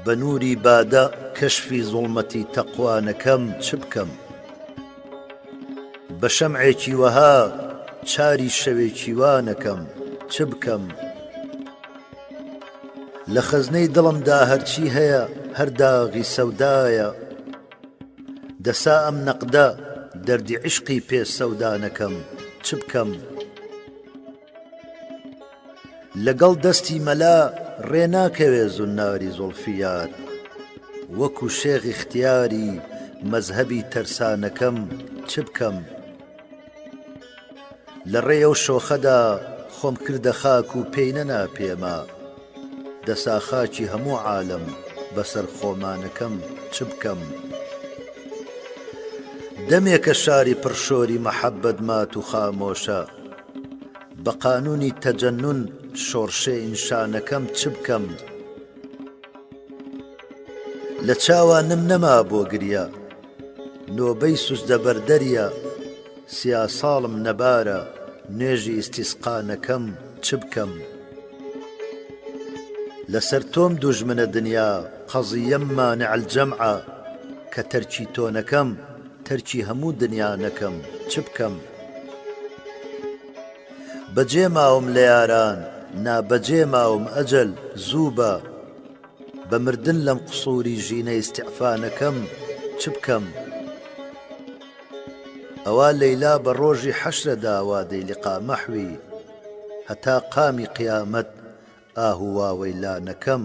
بە نووری بادە کەشفی زوڵمەتی تەقوانەکەم چ بکەم بە شەمعێکی وەها چاری شەوێکی وانەکەم چ بکەم لە خەزنەی دڵمدا هەرچی هەیە هەرداغی سەودایە دەسا ئەم نەقدە دەردی عشقی پێ سەودانەکەم چ بکەم؟ لەگەڵ دەستی مەلا ڕێ ناکەوێ زناری زوڵفییات وەکو شێخی ختیاری مەزهەبی تەرسانەکەم چ بکەم لە ڕێ ئەو شۆخەدا خۆم کردە خاک و پێی نەنا پێما دەسا خاچی هەموو عالم بەسەر خۆمانەکەم چ بکەم دەمێکە شاری پڕشۆری مەحەبەت مات و خامۆشە بە قانونی تەجەنون شۆڕشێین شانەکەم چ بکەم لە چاوانم نەما بۆ گریا نۆبەی سوجدە بەر دەریا سیا ساڵم نەبارە نوێژی ئیستیسقانەکەم چ بکەم لەسەر تۆم دوژمنە دنیا قەزیەم مانع الجمعە کە تەرکی تۆ نەکەم تەرکی هەموو دنیا نەکەم چ بکەم بەجێ ماوم لە یاران نا بەجێ ماوم ئەجەل زوو بە بە مردن لەم قسووری ژینە ئیستیعفانەکەم چ بکەم؟ ئەوا لەیلا بە ڕۆژی حەشرەدا وادەی لقا مەحوی هەتا قامی قیامەت ئاهواوەی لا نەکەم.